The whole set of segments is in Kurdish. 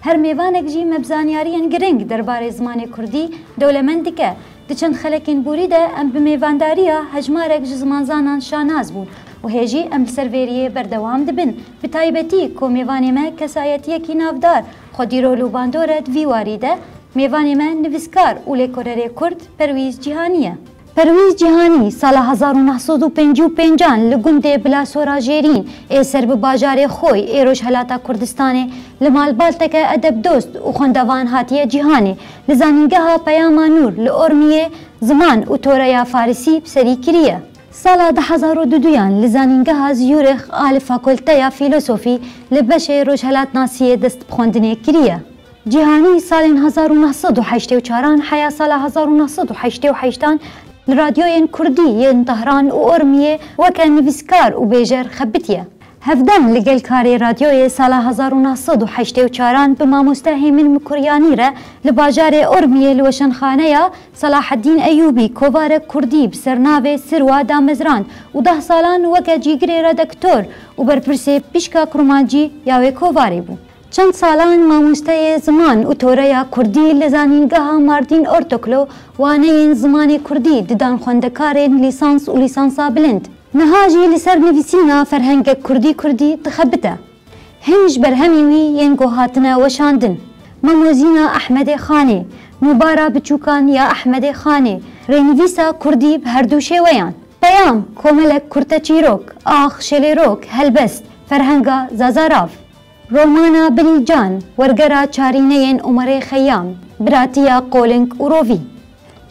Her mêvanek jî me bi zanyariyên girîng derbarê zimanê kurdî dewlemend dike. Di çend xelekên borî de em bi mêvandariya hejmarek ji zimanzanan şanaz bûn û hê jî em li ser vê riyê berdewam dibin. Bi taybetî ku mêvanê me kesayetiyekî navdar Xwedîrol û bandor e di vî warî de mêvanê me nivîskar û lêkolêrê kurd Perwîz Cîhanî ye. Perwîz Cîhanî, sala hezar û neh sed û pêncî û pêncan li gundê Bila Sora Jêrîn ê ser bi bajarê Xoy ê Rojhelata Kurdistanê li malbalteke edebdost û xwendevan hatiye cîhanê li Zanîngeha Peyama Nûr li Ormiyê Ziman û Toreya Farisî bi serî kiriye. Sala du hezar û du duyan li Zanîngeha Zurich a li Fakulteya Fîlosofî li beşê Rojhelatnasiyê dest bi xwendinê kiriye. Cîhanî salên hezar û neh sed û heştê û çaran heya sala hezar û neh sed û heştê û heştan li radyoyên kurdî yên Tehran û Urmiyê weke nivîskar û bêjer xebitiye. Hevdem li gel karê radyoyê sala hezar û neh sed û heştê û çaran bi mamoste Hêmin Mikuryanî re li bajarê Urmiyê li weşanxaneya Salaheddîn Eyûbî kovarek kurdî bi sernavê Sirwa damezrand û deh salan weke cîgirê redektor û berpirsê Pişka Kurmancî ya wê kovarê bû. Çend salan mamosteyê ziman û toreya kurdî li Zanîngeha Mardîn Ortoklo waneyên zimanê kurdî didan xwendekarên lîsans û lîsansa bilind. Niha jî li ser nivîsîna ferhengek kurdî kurdî dixebite. Hin ji berhemî wî yên ku hatine weşandin, Mamozîna Ehmedê Xanê, Nûbara Biçûkan ya Ehmedê Xanê, rênivîsa kurdî bi herdû şêweyan, Peyam, Komelek Kurte Çîrok, Ax, Şelêrok, Helbest, Ferhenga Zazarav. Romana Bilî Can, wergera çarîneyên Omerê Xeyyam, biratiya Qolink û Rovî.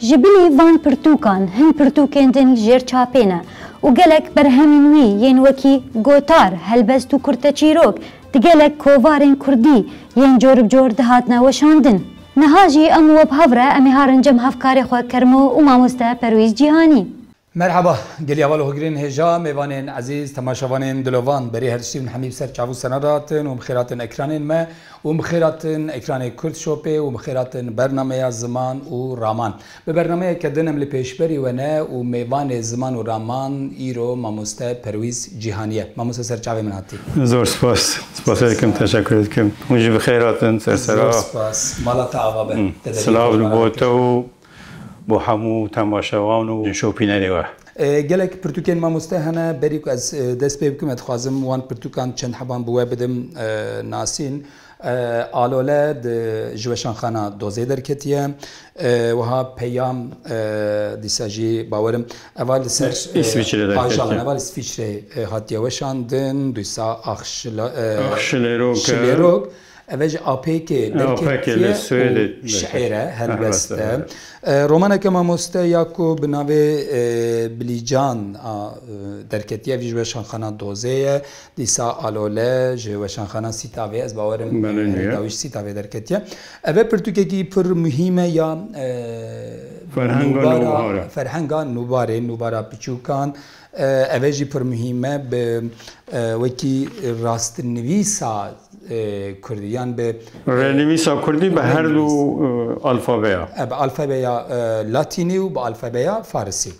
Ji bilî van pirtûkan hin pirtûkên din li jêr çapê ne û gelek berhemên wî yên wekî Gotar, Helbest û Kurteçîrok di gelek kovarên kurdî yên coribcor dihatine weşandin. Niha jî em û we bi hev re em ê harin cem hevkarê xwe Kermo û mamoste Perwîz Cîhanî. Merhaba, gelî heval û hogirên hêja, mêvanên ezîz, temaşevanên dilovan, berê her tiştî bin hemî bi ser çav û senan re hatin û bi xêr hatin ekranên me û bi xêr hatin ekranê Kurd Shopê û bi xêr hatin bernameya Ziman û Raman. Bi bernameyeke din em li pêşberî we ne û mêvanê Ziman û Raman îro Mamoste Perwîz Cîhanî ye. Mamoste ser çavê min hatî. Zor spas. Spasê dikim, teşekurê dikim. Hûn jî bi xêr hatin ser serra. Zor spas. Mala te ava be. Te deriyê Silav li bo te û Bo hemû temaşevan û şopînerê we. Gelek pirtûkên mamoste hene berî ku ez dest pê bikim. Ez dixwazim wan pirtûkan çend heban bi we bidim. Nasîn Alole di ji weşanxana dozê derketiye. Wiha peyam dîsa jî bawer im eva li ser ajalan eva li Swîsreyê hatiye weşandin dîsa ax şilêrok. Ev e ji APKê derketiye û şiêre helbest e. Romaneke mamoste ya ku bi navê Bilîcan a derketiye ev jî ji Weşanxana Dozê ye. Dîsa Alole ji Weşanxana Sîtavê ez bawer im heta wî ji Sîtavê derketiye. Ev e pirtûkekî pir muhîm e ya ferhenga nûbarê, nûbara piçûkan. Ev jî pir muhîm e bi wekî rastnivîsa kurdî yan bi. Rênivîsa kurdî bi her du alfabeya. Bi alfabeya latînî û bi alfabeya farisî.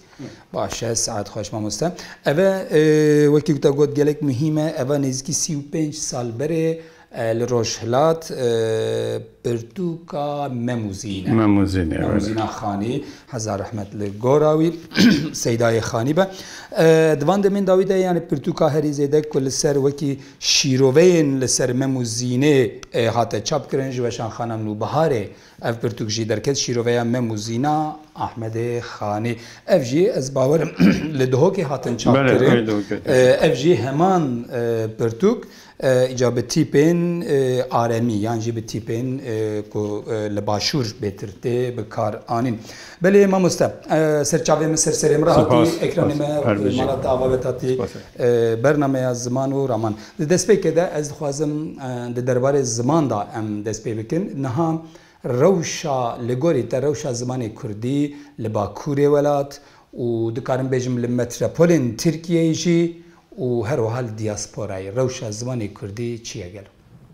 Baş e, sihet xweş mamoste. Ev e wekî ku te got gelek muhîm e, ev e nêzîkî sî û pênc sal berê, Li Rojhilat pirtûka Memûzîn e. Memûzîn e. Memûzîna Xanî. Heza rehmet li gora wî. Seydayê Xanî be. Di van demên dawî de yanî pirtûka herî zêde ku li ser wekî şîroveyên li ser Memûzînê hate çapkirin ji weşan Xana Nûbiharê Ev pirtûk jî derket şîroveya Me Muzîna Ahmedê Xanê. Ev jî ez bawer im li Duhokê hatin çapkirin. Ev jî heman pirtûk îca bi tîpên aremî yan jî bi tîpên ku li başûr bêtir tê bi kar anîn. Belê mamoste serçavê min ser serê min re hatî ekranê me malata ava ve tatî bernameya ziman û raman. Di destpêkê de ez dixwazim di derbarê ziman de em dest pê bikin. Niha rewşa li gorî te rewşa zimanê kurdî li bakurê welat û dikarim bêjim li metropolên Tirkiyeyê jî û her wiha li diasporayê rewşa zimanê kurdî çi ye gelo?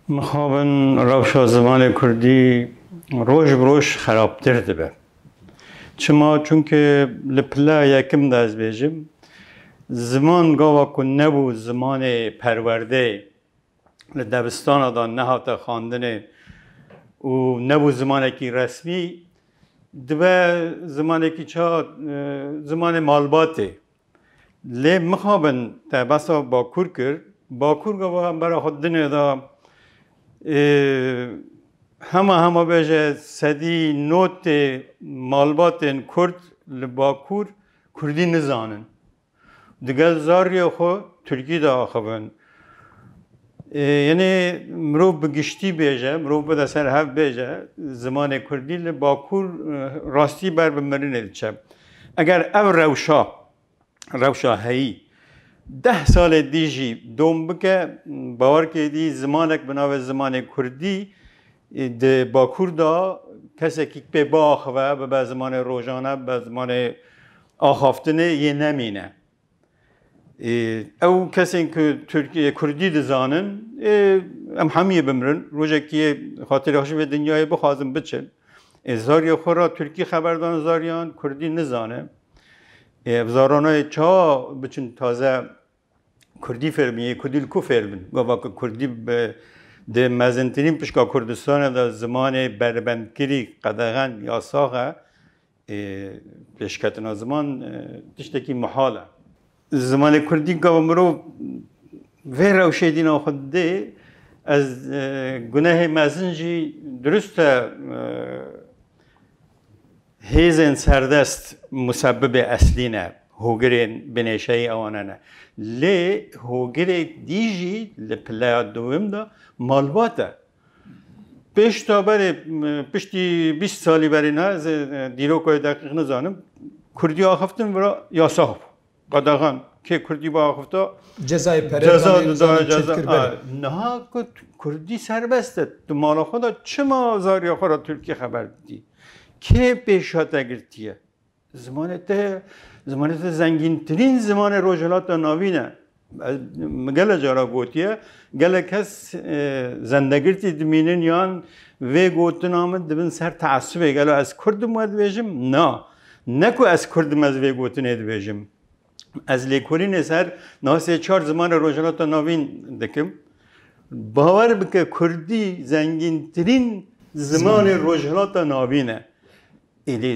Mixabin rewşa zimanê kurdî roj bi roj xerabtir dibe. Çima? Çunke li pila yekim de ez bêjim ziman gava ku nebû zimanê perwerdê li debistana de nehate xandinê û nebû zimanekî resmî dibe zimanekî çi hat zimanê malbatê Lê mixabin te behsa Bakur kir, Bakur gava em bera xwe dinê da hema hema bêje sedî notê malbatên Kurd li Bakur Kurdî nizanin. Digel zarriyê xwe Tirkî de axivin. Yenê mirov bi giştî bêje, mirov bide ser hev bêje zimanê kurdî li Bakur rastî ber bi mirinê diçe. Eger ev rewşa, rewşa heyî deh salê dî jî dom bike, bawer ke dî zimanek bi navê zimanê kurdî di Bakur da kesekî pê biaxive, bibe zimanê rojane, bibe zimanê axaftinê yê nemîne. Ê ew kesên ku Tirkî Kurdî dizanin ê em hemiyê bimirin rojekî yê xatirê xwe ji vê dinyayê bixwazin biçin. Ê zariyê xwe re Tirkî xeber dan zariyan Kurdî nizane. Ê ev zarana yê çawa biçin taze Kurdî fêr bin yê Kurdî li ku fêr bin. Gava ku Kurdî bi di mezintirîn pişka Kurdistanê de zimanê beribendkirî, qedexen, yasax e. Pêşketina ziman tiştekî mihal e. Zimanê Kurdî gava mirov vê rewşê dî nav xwe didê, ez gunehê mezin jî dirust e hêzên serdest musebibê eslî ne, hogirên binêşeyî ewane ne. Lê hogirê dî jî li pileya dowim de malbat e. Pêş da berê piştî bîst salî berê ne ez ê dîroka wê deqîq nizanim. Kurdî axiftin vira yasax bû. Qedexan kê Kurdî bi axifta ceza didayê ceza. Niha ku Kurdî serbest e di mala xwe de çima zariya xwe re Tirkî xeber didî? Kê pêş hate girtiye? Zimanê te zimanê te zengîntirîn zimanê Rojhilata Navîn e. Min gele cara gotiye gelek kes zendegirtî dimînin yan vê gotina min dibin ser teesubê gelo ez kurdim we dibêjim na ne ku ez kurdim ez vê gotinê dibêjim. Ez lêkolînê ser nasê çar zimanê Rojhilata Navîn dikim. Bawer bike Kurdî zengîntirîn zimanê Rojhilata Navîn e. Êdî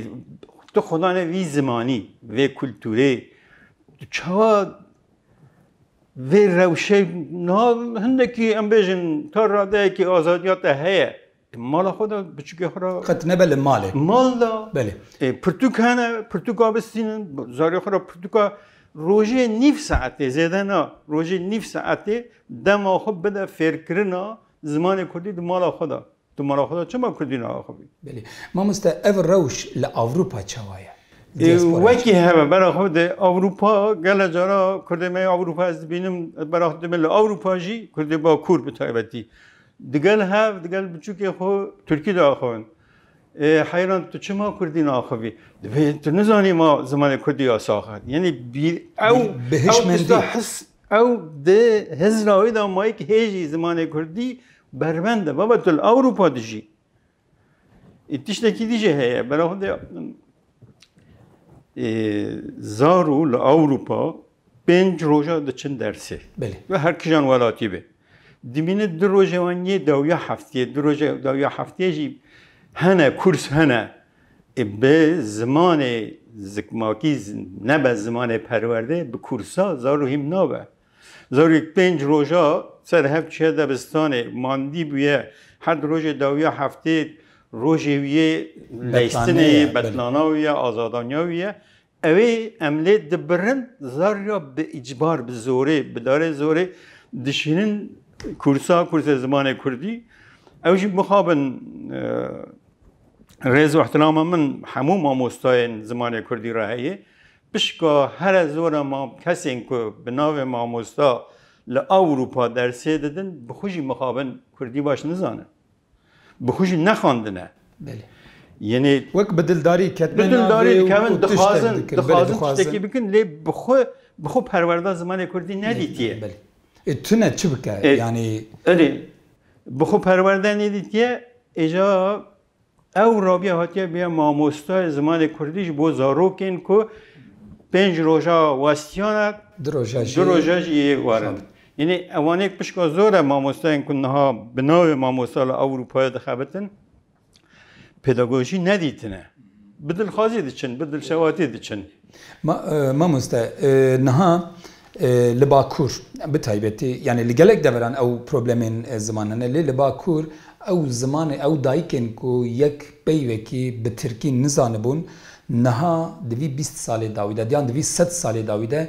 tu xweda ne vî zimanî, vê kulturê tu çawa vê rewşe na hindekî em bêjin ta radeyekî azadiya te heye. Di mala xwe de biçûkê xwe re. Qet nebe li malê. Mal de. Belê. Ê pirtûk hene, pirtûka bistînin, zarê xwe re pirtûka rojê nîv saetê zêde na, rojê nîv saetê dema xwe bide fêrkirina zimanê kurdî di mala xwe de. Tu mala xwe de çima kurdî naaxivî? Belê. Mamoste ev rewş li Ewropa çawa ye? Wekî heve bera xwe di Ewropa gele cara kurdê me Ewropa ez dibînim bera xwe dibin li Ewropa jî kurdê bakur bi taybetî digel hev digel biçûkê xwe Tirkî de axivin. Heyran tu çima kurdî naaxivî? Divê tu nizanî ma zimanê kurdî ya sax e. Yenî bîr ew bi hişmendî his Ew di hizra wê de ma yek hêjî zimanê kurdî bervend e. Baba tu li Ewropa dijî. E, tiştekî dî jê heye. Bera xwe de e, zar û li Ewropa pênc roja diçin dersê. Belê. Ve her kijan welatî be. Dimîne du rojê wan yê dawya heftiyê, du rojê dawya heftiyê jî hene kurs hene. Bi zimanê zikmakî nebe zimanê perwerdê bi kursa zaro hîm nabe. Zarok pênc roja ser hev çiye debistanê mandî bûye her di rojê dawiya heftê rojê wîyê leyistinê yê betlana wîye azadaniya wîye Ew ê em lê dibirin zar ya bi îcbar, bi zorê, bi darê zorê dişînin kursa, kursê zimanê kurdî. Ew jî bixabin rêz û ihtilama min hemû mamostayên zimanê kurdî re heye. Pişka here zora ma kesên ku bi navê mamosta li Ewropa dersê didin bi xwe jî mixabin kurdî baş nizanin. Bi xwe jî nexandine. Belê. Yenê Wek bi dildarî ketine Bi dildarî navê û- dikevin û tiştek dixwazin dikin. Belê, dixwazin dixwazin. tiştekî bikin lê bi xwe bi xwe perwerda zimanê Kurdî nedîtiye. Belê. E tune çi bike? E- Yanî Erê bi xwe perwerda nedîtiye êja ew rabiye hatiye biya mamostayê zimanê Kurdî ji bo zarokên ku pênc roja westiyana di roja jî du roja jî yê warin. Yanî ewanê pişka zor e mamosteyên ku niha bi navê mamosta li Ewropayê dixebitin pedagojî nedîtine. Bi dilxwazî diçin, bi dilşewatî diçin. Mamoste niha li Bakur bi taybetî yanî li gelek deveran ew problemên ziman hene lê li Bakur ew zimanê ew dayikên ku yek peyvekî bi tirkî nizanibûn niha di vî bîst salê dawî de diyan di vî sed salê dawî de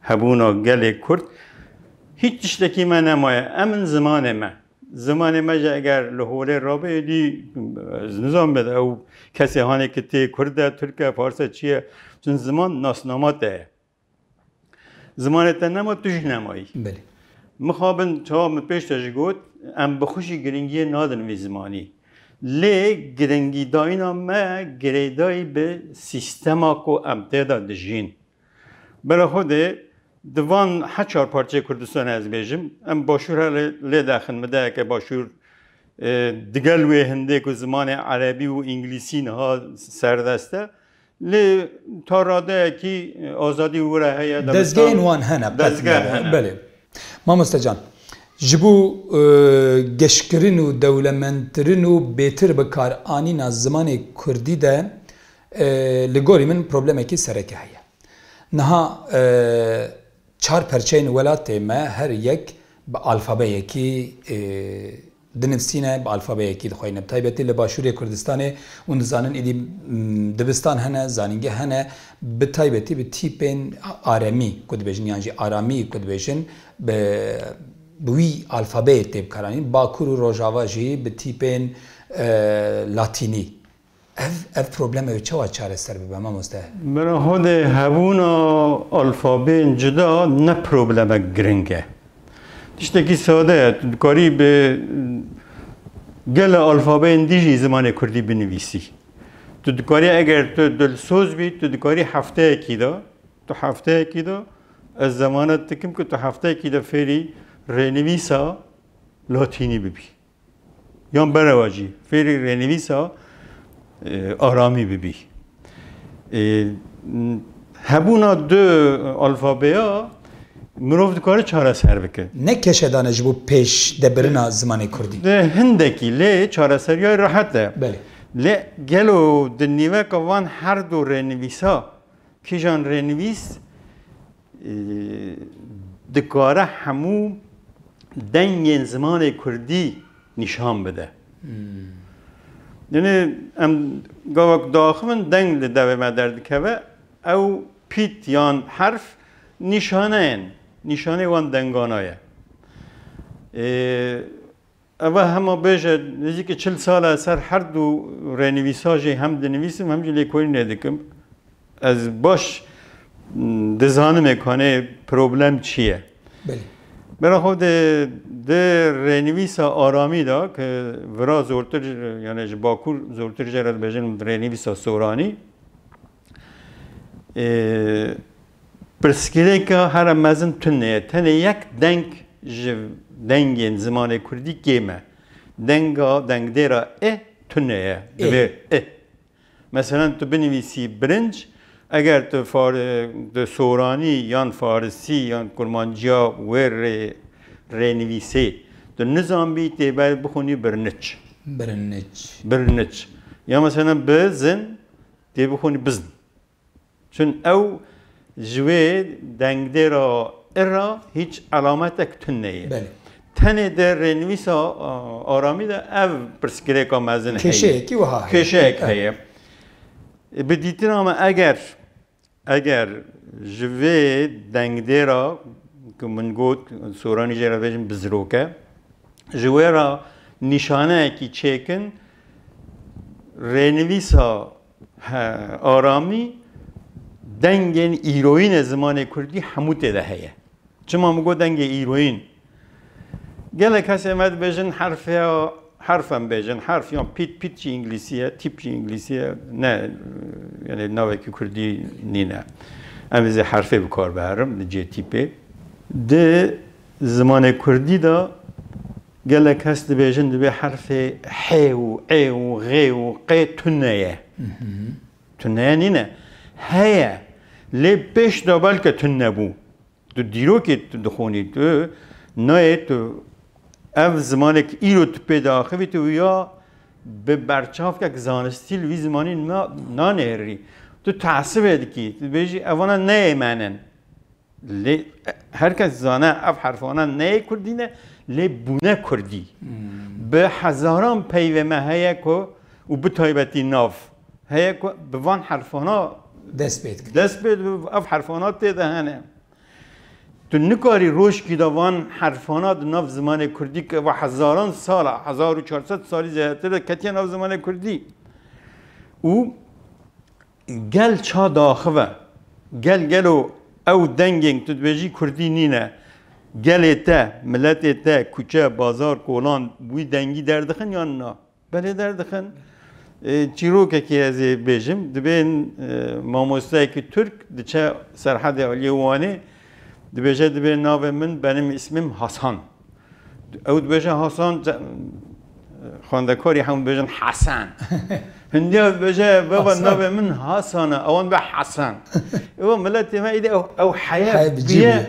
Hebûna gelê Kurd hîç tiştekî me nemaye. Em in zimanê me. Zimanê me jî eger li holê rabe êdî ez nizanim bed ew kesê hanê ki tê Kurd e, Tirk e, Fars e, çi ye? Çin ziman nasnama te ye. Zimanê te nema tu jî nemayî. Belê. Mixabin çawa min pêş de jî got em bi xwe jî giringiyê nadin vî zimanî. Lê giringîdayîna me girêdayî bi sîstema ku em tê de dijîn, Bela Xwedê di van heçar parçeyê Kurdistanê ez bêjim, em başûr hele lê daxin min dayeke başûr digel wê hindê ku zimanê erebî û înglîsî niha serdest e lê ta radeyekî azadî û wira heye Dezgehên wan hene qet Dezgeh nebe. hene. Belê. Mamoste can, ji bo geşkirin û dewlemendkirin û bêtir bikaranîna zimanê Kurdî de Li gorî min problemekî sereke heye. Niha çar perçeyên welatê me her yek bi alfabeyekî dinivsîne, bi alfabeyekî dixweyne. Bi taybetî li başûrê Kurdistanê hûn dizanin êdî dibistan hene, zanîngeh hene, bi taybetî bi tîpên aremî ku dibêjin yan jî aramî ku dibêjin bi bi wî alfabeyê tê bikaranîn. Bakur û rojava jî bi tîpên latînî. Ev ev probleme wê çawa çareser bibe mamoste? Bira Hodê hebûna alfabeyên cuda ne problemek giring e. Tiştekî sade ye. Tu dikarî bi gela alfabeyên dî jî zimanê kurdî binivîsî. Tu dikarî eger tu dilsoz bî tu dikarî hefteyekî de tu hefteyekî de ez zemanet dikim ku tu hefteyekî de fêrî rênivîsa latînî bibî. Yan berewa jî fêrî rênivîsa aramî bibî. Hebûna du alfabeya mirov dikare çareser bike. Ne keşedane ji bo pêş debirina zimanê kurdî. Hindekî lê çareseriya rehet e. Belê. Lê gelo di nîveka van her du rênivîsa kîjan rênivîs dikare hemû dengên zimanê kurdî nîşan bide. Dinê em gava ku diaxivin deng li devê me derdikeve ew pît yan herf nîşaneyên nîşanê wan dengana ye. Eva hema bêje nêzîkî çil sal e ser her du rênivîsa jî hem dinivîsim hem jî lêkolînê dikim. Ez baş dizanim ê kanê problem çi ye. Belê. Bera xwe de di rênivîsa aramî de ke vira zortir yani ji bakur zortir jê re dibêjin rênivîsa soranî Pirsgirêka here mezin tune ye. Tenê yek deng ji dengên zimanê kurdî kêm e. Denga dengdêra i tune ye. Divê i. Meselen tu binivîsî birinc, eger tu soranî yan farisî yan kurmanciya wê rê rênivîsê tu nizanbî tê bixwînî birinic. Birinic. Birinic. Ya meselen bi zin Dê bixwînî bizn. Çün ew ji wê dengdêra ir ra hîç elametek tun neyê. Belê. Tenê di rênivîsa Aramî de ev pirsgirêka mezin heye. Kêşeyekî wiha heye. Kêşeyek heye. Bi dîtina me eger Eger ji vê dengdêra ku min got soranî jê re bêjim bizirok e, ji wê re nîşaneyekî çêkin rênivîsa Aramî dengên îroyînê zimanê kurdî hemû tê de heye. Çima min got dengê îroyîn? Gelek kesên me dibêjin herf ya herf em bêjin herf yan pît pît jî înglîsî ye tîp jî înglîsî ye ne yanê navekî kurdî nîne. Em zî herfê bi kar biherin li cihê tîpê. Di zimanê kurdî de gelek kes dibêjin divê herfê hê û ê û ghê û qê tune ye. Tune nîne. Heye. Lê pêş de belke tune bû. Tu dîrokê tu dixwînî, tu nayê tu ev zimanê ku îro tu pê de axivî tu ya bi berçavkek zanistî li wî zimanî nanihêrî. Tu teesibê dikî, tu dibêjî evana neyê me ne. Lê her kes dizane ev herfana neyê kurdî ne lê bûne kurdî. Bi hezaran peyvê me heye ku û bi taybetî nav heye ku bi van herfana dest pê dike. Dest pê dibe ev herfana tê de hene. Tu nikarî roşkî de van herfana di nav zimanê Kurdî ke va hezaran sala hezar û çar sed salî zêdetir de ketiye nav zimanê Kurdî û gel ça diaxive. Gel gelo ew dengên tu dibêjî Kurdî nîne. Gelê te, miletê te, kuçe, bazar, kolan wî dengî derdixin yan na? Belê derdixin. Çîrokekî ez ê bêjim, divê mamosteyekî Tirk diçe Serhedê Aliyê Wanê, dibêje divê navê min benim ismim Hasan. Ew dibêje Hasan, xwendekarî hemû dibêjin Hesen. Hindiya dibêje baba navê min Hasan e, ewan dibe Hesen. Ewa miletê me îdî ew heya bûye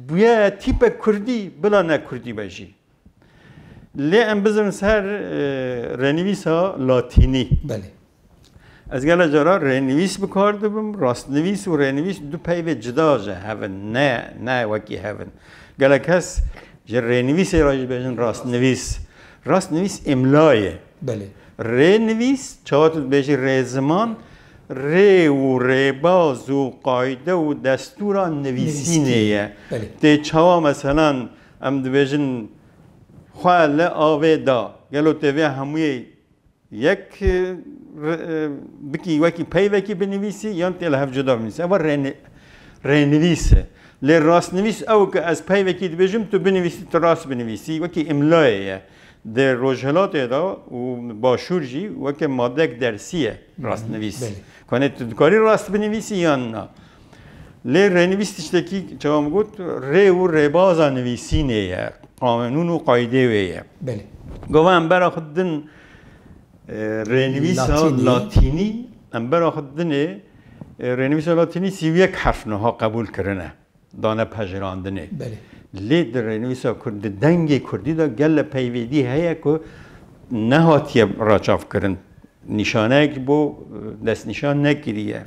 bûye tîpek Kurdî bila ne Kurdî be jî. Lê em bizirin ser rênivîsa latînî. Belê. Ez gela cara rênivîs bi kar dibim, rastnivîs û rênivîs du peyvê cida ji hev in, ne ne wekî hev in. Gela kes ji rênivîsê re jî bêjin rastnivîs. Rastnivîs îmla ye. Belê. Rênivîs çawa tu dibêjî rêziman rê û rêbaz û qayde û destûra nivîsînê ye. Belê. Tê çawa meselan Em dibêjin xwe li avê da. Gelo tu vê hemûyê yek bikî wekî peyvekî binivîsî yan tu li hev cuda binivîsî. Ev rênivîs e. Lê rastnivîs ew ku ez peyvekî dibêjim tu binivîsî tu rast binivîsî wekî îmlayê ye. Di rojhilatê de û başûr jî weke madeyek dersî ye rastnivîs. Kanê tu dikarî rast binivîsî yan na. Lê rênivîs tiştekî çawa min got rê û rêbaza nivîsînê ye, qanûn û qaydê wê ye. Belê. Gava em bera xwe din rênivîsa latînî em bera xwe dinê rênivîsa latînî sî û yek herf niha qebûl kirine dane pejirandinê. Belê. Lê di rênivîsa kurd di dengê kurdî de gelle peyvêdî heye ku nehatiye raçavkirin. Nîşaneyekî bo destnîşan nekiriye.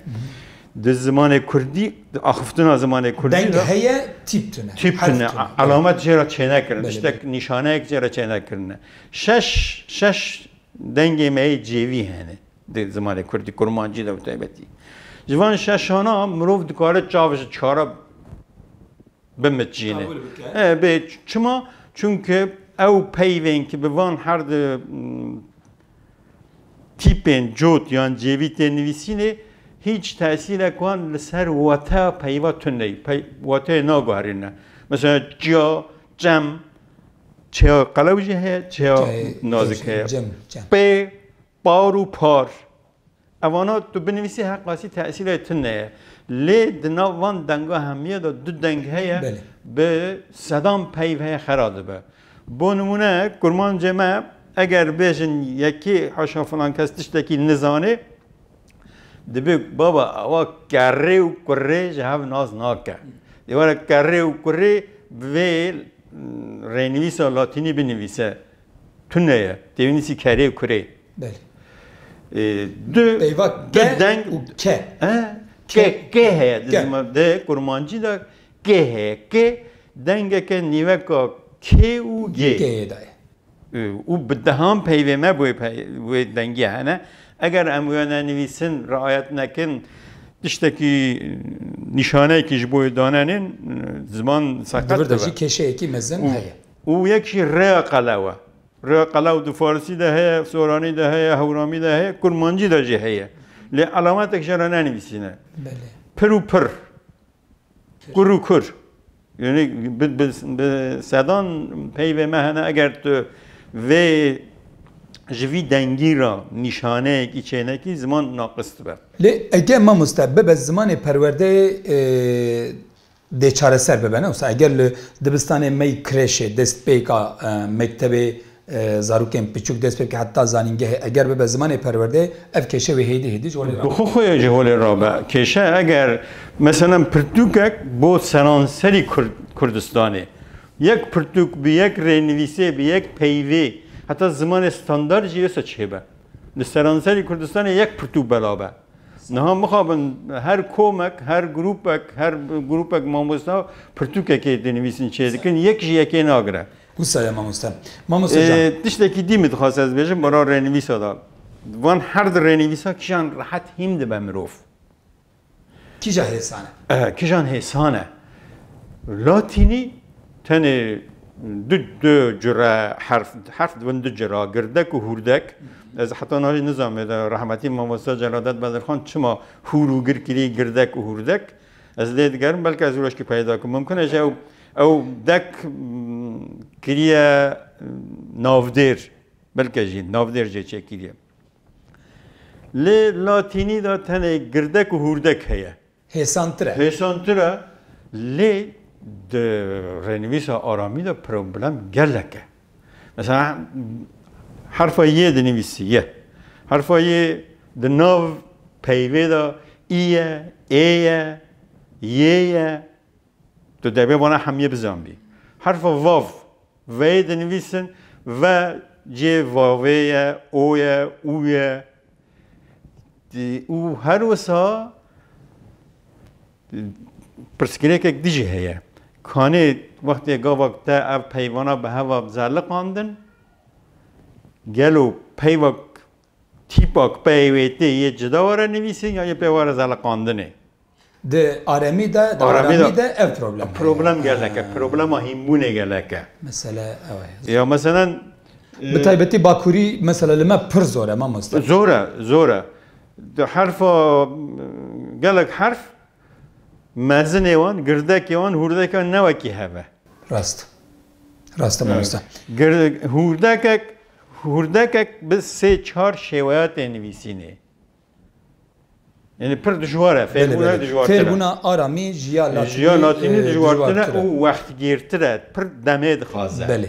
Di zimanê kurdî, di axiftina zimanê kurdî de. Deng heye tîp tune. Tîp tune. Elamet jê re çênekirin. Tiştek nîşaneyek jê re çênekirine. Şeş şeş dengê me yê cêvî hene di zimanê kurdî, kurmancî de bi taybetî. Ji van şeşan a mirov dikare çav ji çare bimicîne. Bê çima? Çunke ew peyvên ki bi van her di tîpên cot yan cêvî tê nivîsînê hîç tesîrek wan li ser wateya peyva tune neyê. Wateyê naguherîne. Mesela çiya çem, çiya qelew jî heye, çiya nazik heye. Pê, par û par. Ev wano tu binivîsî her qasî tesîrê tu neye. Lê di nav van denga hemiyê de du deng heye bi sedan peyv heye xera dibe. Bo nimûne kurmancê me eger bêjin yekê haşa filan kes tiştekî nizanê dibê baba ewa kerrê û kurrê ji hev nas nake. Dê were kerrê û kurrê bi vê rênivîsa latînî binivîse. Tune ye. Têwînîsî kerê û kurê. Belê. Du Peyva ke deng û ke. Ke ke heye di zima di kurmancî de ke heye. Ke dengeke nîveka kê û gê. Gêyê de ye. Û bi dehan peyvê me bi wê dengî hene. Eger em wênenivîsin, riayet nekin, tiştekî nîşaneyekî ji bo wê danenên ziman seqet dibe. Di vir de jî kêşeyekî mezin heye. û yek jî rêya qelew e. Rêya qelew di farisî de heye, soranî de heye, hewramî de heye, kurmancî de jî heye. Lê elemetek jê re nenivîsîne. Pir û pir. Kur û kur. Yanî bi sedan peyvê me hene eger tu vê ji vî dengî re nîşaneyekî çênekî ziman naqis dibe. Lê eke mamoste bibe zimanê perwerdeyê dê çareser bibe ne wisa eger li dibistanê mey kreşê destpêka mektebê zarokên piçûk dest pê bike heta zanîngehê eger bibe zimanê perwerdeyê ev kêşe wê hêdî hêdî ji holê rabe. Bi xwe xwe ye ji holê rabe kêşe eger meselan pirtûkek bo seranserî Kurdistanê yek pirtûk bi yek rênivîsê bi yek peyvê heta zimanê standard jî wisa çêbe li seranserî Kurdistanê yek pirtûk belabe. Niha mixabin her komek, her grupek, her grupek mamosta pirtûkekê dinivîsin çê dikin, yek ji yekê nagire. Wisa ye mamosta. Mamosta can. Ee, tiştekî dî min dixwase ez bêjim bara rênivîsa da. Van her di rênivîsa kîjan rehet hîm dibe mirov. Kîja hêsan e. Ee, kîjan hêsan e. Latînî Tenê du du cure herf herf dibin du cura girdek û hûrdek. Ez heta niha jî nizanibê de rehmetî mamoste Celadet Bedirxan çima hûr û gir kirî girdek û hûrdek. Ez lê digerim belke ez rojkî peyda kim. Mimkin e ji ew ew dek kiriye navdêr belke jî navdêr jê çêkiriye. Lê latînî de tenê girdek û hûrdek heye. hêsantir e. Hêsantir e, lê di rênivîsa aramî de problem gelek e. Mesela herfa yê dinivîsî ye. Herfa yê di nav peyvê de î ye, ê ye, yê ye. Tu debê wana hemiyê bizanbî. Herfa vav. Veyê dinivîsin, ve cihê vavê ye, o ye, û ye û her wisa pirsgirêkek din jî heye. Kanê wextê gavak te ev peyvana bi heva bi zerliqandin, gelo peyvak Tîpa ku peyê wê tê yê cida were nivîsîn ya yê pê were zeliqandinê? Di aremî de, di aramî de ev problem heye. Problem gelek e, problema hînbûnê gelek e. Mesele ew e. Ya meselen. Bi taybetî bakurî mesele li me pir zor e mamoste. Zor e, zor e. Di herfa, gelek herf Mezinê wan, girdekê wan, hûrdekê wan ne wekî hev e. Rast. Rast e mamoste. Hûrdekek, hûrdekek bi sê çar şêweya tê nivîsînê. Yanî pir dijwar e, fêrbûna dijwartir e. Fêrbûna aramî ji ya latînî dijwartir e û wextgîrtir e, pir demê dixwaze. Belê.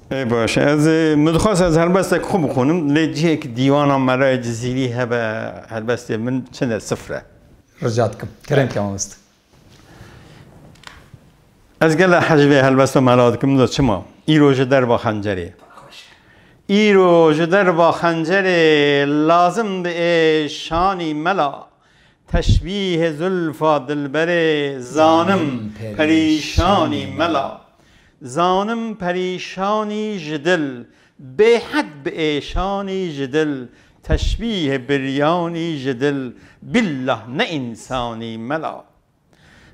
Ê baş ez ê min dixwest ez helbestek xwe bixwînim lê cihêk dîwana me re Cizîrî hebe helbestê min çend e sifir e. Rica dikim kerem ke mamoste. Ez gele hecvê helbesta mela dikim do çima îro ji derva xencerê îro ji derva xencerê lazim bi ê şanî mela Teşbîhê zûlfa dilberê zanim perîşanî mela. Zanim perîşanî ji dil, bêhed bi êşanî ji dil, teşbîhê biryanî ji dil, billah ne însanî mela.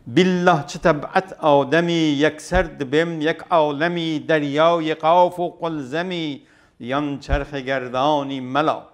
Billah çi teb'et ademî, yekser dibêm yek alemî, deryayê qaf û qulzemî, yan çerxê gerdanî mela.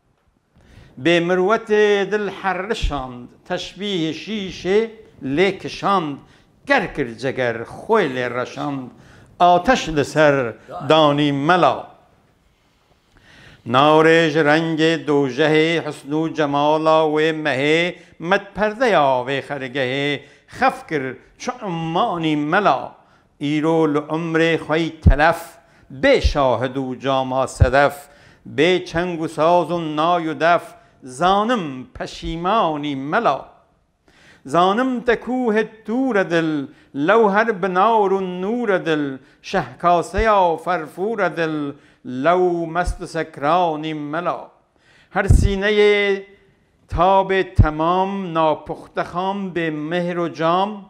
Bê mirwetê dil herrişand, teşbîhê şîşê lê kişand, ker kir ceger, xwe lê reşand, ateş li ser danî mela. Navê ji rengê dojehê, hisn û cemala wê mehê, met perdeya vê xergehê, xef kir çi ummanî mela. Îro li umrê xwe yî telef. Bê şahid û cama sedef. Bê çeng û saz û nay û def. Zanim peşîman î mela. Zanim te kû hê tûre dil. Lewher bi nar û nûre dil. Şehkaseya ferfûre dil. Lew mest û sekran î mela. Her sîneyê tabê temam. Napuxte xam bê mihr û cam.